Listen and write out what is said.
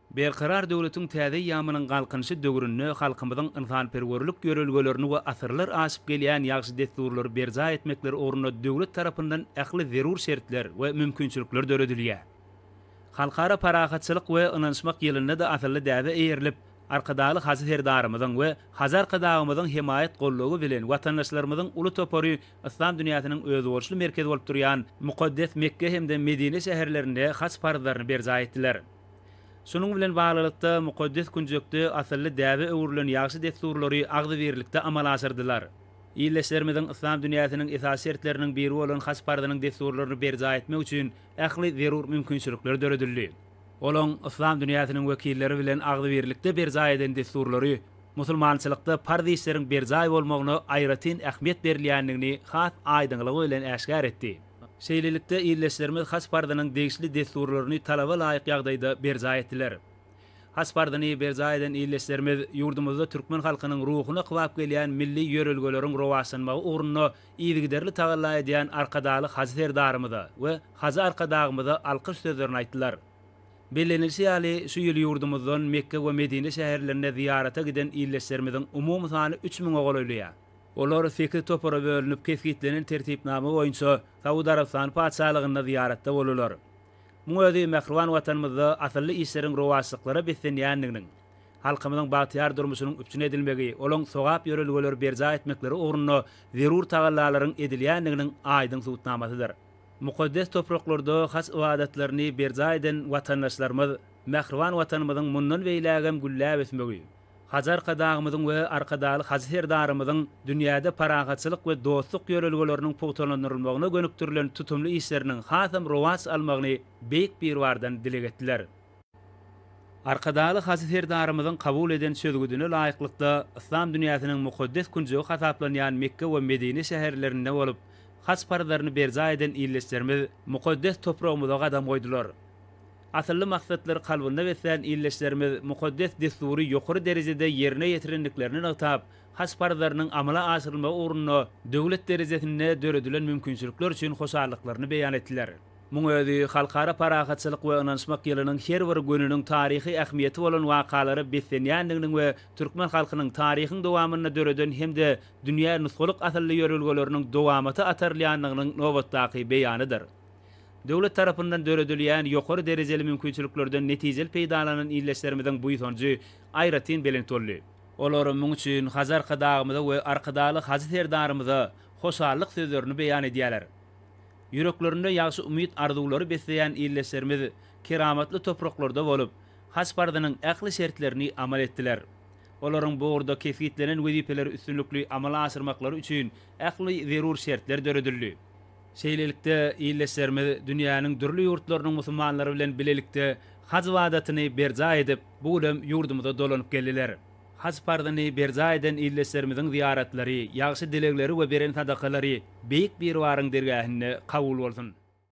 Berkarar döwletiň täze eýýamynyň Galkynyşy döwründe halkymyzyň ynsanperwerlik ýörelgelerini we asyrlar aşyp gelýän ýagşy dessurlary berjaý etmekleri ugrunda döwlet tarapyndan ähli zerur şertler we mümkinçilikler döredilýär. Halkara parahatçylyk we ynanyşmak ýylynda-da asylly däbe eýerilip, Arkadagly Hajy Serdarymyzyň we Hajy Arkadagymyzyň hemaýat-goldawy bilen watandaşlarymyzyň uly topary Yslam dünýäsiniň özboluşly merkezi bolup durýan mukaddes Mekge hem-de Medine şäherlerinde haç parzlaryny berjaý etdiler. Şunuň bilen baglylykda, mukaddes künjekde asylly däbe öwrülen ýagşy dessurlary agzybirlikde amala aşyrdylar. Ildeşlerimiziň yslam dünýäsiniň esasy şertleriniň biri bolan haç parzynyň dessurlaryny berjaý etmek üçin ähli zerur mümkinçilikler döredildi. Olaň yslam dünýäsiniň wekilleri bilen agzybirlikde berjaý eden dessurlary, Musulmançylykda parz işleriň berjaý bolmagyna aýratyn ähmiýet berilýändigini has aýdyňlygy bilen äşgär etdi. Şeýlelikde, ildeşlerimiz haç parzynyň degişli dessurlaryny talaba laýyk ýagdaýda berjaý etdiler. Haç parzyny berjaý eden ildeşlerimiz ýurdumyzda türkmen halkynyň ruhuna kybap gelýän milli ýörelgeleriň rowaçlanmagy ugrunda yzygiderli tagalla edýän Arkadagly Hajy Serdarymyza we Hajy Arkadagymyza alkyş sözlerini aýtdylar. Bellenilişi ýaly, şu ýyl ýurdumyzdan Mekge we Medine şäherlerine zyýarata giden ildeşlerimiziň umumy sany üç müňe golaýlaýar. Olar sekiz topara bölünip, kesgitlenen tertipnama boýunça Saud Arabystany Patyşalygynda zyýaratda bolarlar. Muň özi mähriban Watanymyzda asylly işleriň rowaçlyklara beslenýändiginiň, halkymyzyň bagtyýar durmuşynyň üpjün edilmegi, olaň sogap ýörelgeleri berjaý etmekleri ugrunda zerur tagallalaryň edilýändiginiň aýdyň subutnamasydyr. Mukaddes topraklarda haç ybadatlaryny berjaý eden watandaşlarymyz mähriban Watanymyzyň mundan beýlägem gülläp ösmegi, Hajy Arkadagymyzyň we Arkadagly Hajy Serdarymyzyň dünýäde parahatçylyk we dostluk ýörelgeleriniň pugtalandyrylmagyna gönükdirilen tutumly işleriniň hasam rowaç almagyny Beýik Biribardan dileg etdiler. Arkadagly Hajy Serdarymyzyň kabul eden çözgüdine laýyklykda, yslam dünýäsiniň mukaddes künjegi hasaplanýan Mekge we Medine şäherlerinde bolup, haj parzlaryny berjaý eden ildeşlerimiz mukaddes topragymyza gadam goýdular. Asylly maksatlary kalbynda beslän ildeşlerimiz mukaddes dessury ýokary derejede ýerine ýetirendiklerini nygtap, haj parzlarynyň amala aşyrylmagy ugrunda döwlet derejesinde döredilen mümkinçilikler üçin hoşallyklaryny beýan etdiler. Muň özi Halkara parahatçylyk we ynanyşmak ýylynyň her bir gününiň taryhy ähmiýeti bolan wakalara beslenýändiginiň we türkmen halkynyň taryhyň dowamynda döreden hem-de dünýä nusgalyk asylly ýörelgeleriniň dowamata atarylýandygynyň nobatdaky beýanydyr. Döwlet tarapyndan döredilýän ýokary derejeli mümkinçiliklerden netijeli peýdalanan ildeşlerimiziň buýsanjy aýratyn belent boldy. Olar muň üçin Hajy Arkadagymyza we Arkadagly Hajy Serdarymyza hoşallyk sözlerini beýan edýärler. Ýüreklerinde ýagşy umyt-arzuwlary besleýän ildeşlerimiz keramatly topraklarda bolup, haç parzynyň ähli şertlerini amal etdiler. Olaryň bu ugurda kesgitlenen wezipeleri üstünlikli amala aşyrmaklary üçin ähli zerur şertler döredildi. Şeýlelikde, ildeşlerimiz dünýäniň dürli ýurtlarynyň musulmanlary bilen bilelikde haç ybadatyny berjaý edip, bu günem ýurdumyza dolanyp geldiler. Haj parzyny berjaý eden ildeşlerimiziň zyýaratlary, ýagşy dilegleri we beren sadakalary Beýik Biribaryň dergähinde kabul bolsun!